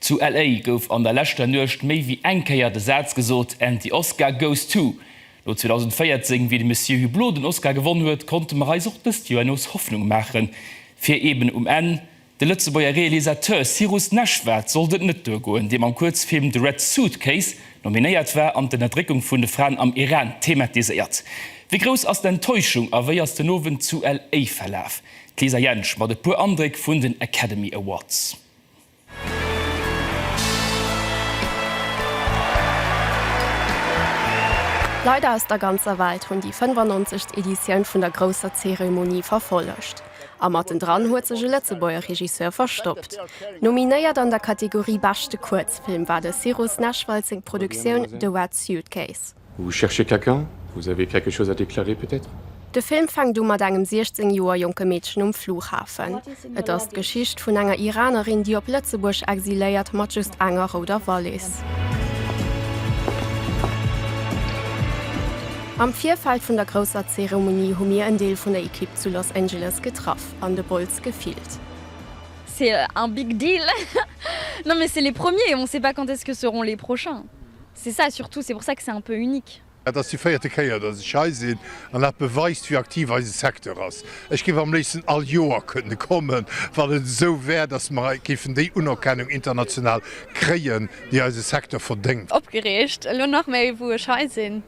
Zu LA gouf an der leschter Nuecht méi wéi eng Kéier de Saz gesot, And the Oscar goes to. No 2014, wéi de Monsieur Hublot den Oscar gewonn huet, konnte mer eis och dëst Joer nees Hoffnung maache fir eben um Enn de Lëtzebuerger Realisateur Cyrus Neshvad sollt et net duergoen, dee mam Kuerzfilm The Red Suitcase nominéiert war an d'Ënnerdréckung vun de Fraen am Iran thematiséiert. Wéi grouss ass d'Enttäuschung a wéi ass den Owend zu LA verlaf? D'Lisa Jentsch mat e puer Andréck vun den Academy Awards. Leider aus der ganzer Welt hunn déi 95. Editioun vun der grousser Zeremonie verfollegt. A matten dran huet sech e Lëtzebuerger Regisseur verstoppt. Nominéiert an der Kategorie Beschte Kuerzfilm war de Cyrus Nechwald seng Produktioun The Wet Suitcase. Vous cherchez quelqu'un? Vous avez quelque chose à déclarer peut-être? De Film fänkt u mat engem 16 Joer jonke Meedchen um Flughafen. Et ass d'Geschicht vun enger Iranerin, déi op Lëtzebuerg exiléiert, mat just enger rouder Wallis. Am Virfeld vun der grousser Zeremonie hu mir en Deel vun der Ekipp zu Los Angeles getraff an de Bols gefillt. C'est un big deal! Non mais c'est les premiers, on sait pas quand est-ce que seront les prochains. C'est ça surtout, c'est pour ça que c'est un peu unique. Et ass déi véierte Kéier, datt ech hei sinn, an dat beweist, wéi aktiv eise Secteur ass. Ech géif am léifsten all Joer kënne kommen, wann et esou wär, datt mer géifen déi Unerkennung international kréien, déi eise Secteur verdéngt. Opgereegt, elo nach méi, wou ech hei sinn.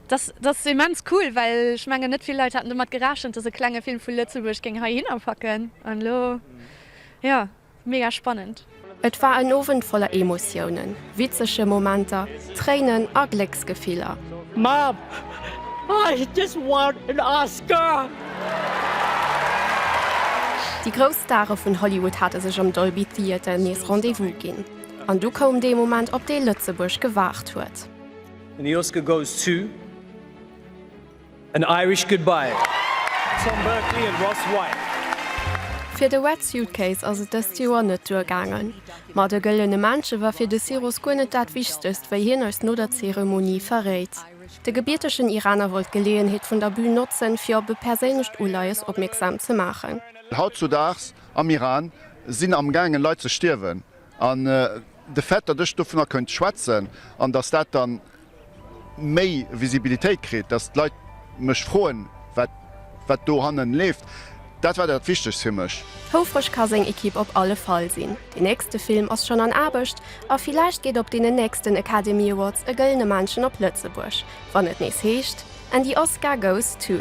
Dat ass immens cool, well ech mengen, net vill Leit haten domat gerechent, datt e klenge Film vu Lëtzebuerg géing heihinner packen. An elo, jo, Mega spannend! Et war en Owend voller Emotiounen, witzege Momenter, Tréinen a Glécksgefiller. Mom, I just want an Oscar! Déi grouss Stare vun Hollywood hate sech am Dolby Theater nees Rendez-vous ginn. An du koum dee Moment, op dee Lëtzebuerg gewaart huet. And the Oscar goes to. An Irish Goodbye, Tom Berkeley and Ross White. Fir de Wet Suitcase ass et dëst Joer net duer gaangen. Ma de gëllene Männche war fir de Siros guer net dat Wichtegst, wéi hien eis no der Zeremonie verréit. De gebiertegen Iraner wollt d'Geleeënheet vun der Bün notzen, fir op e perséinlecht Uleies opmierksam ze maachen. Hautzudaags am Iran sinn am gaangen Leit ze stierwen, an de fait, datt ech dovunner kënnt schwätzen, an datt dat dann méi Visibilitéit kritt, datt d'Leit mech froen, wat wat do hannen leeft, dat war dat Wichtegst fir mech. Houfreg ka seng Ekipp op alle Fall sinn. Deen nächste Film ass schonn an Aarbecht a villäicht geet op deenen nächsten Academy Awards e gëllene Männchen op Lëtzebuerg, wann et nees heescht And the Oscar goes to.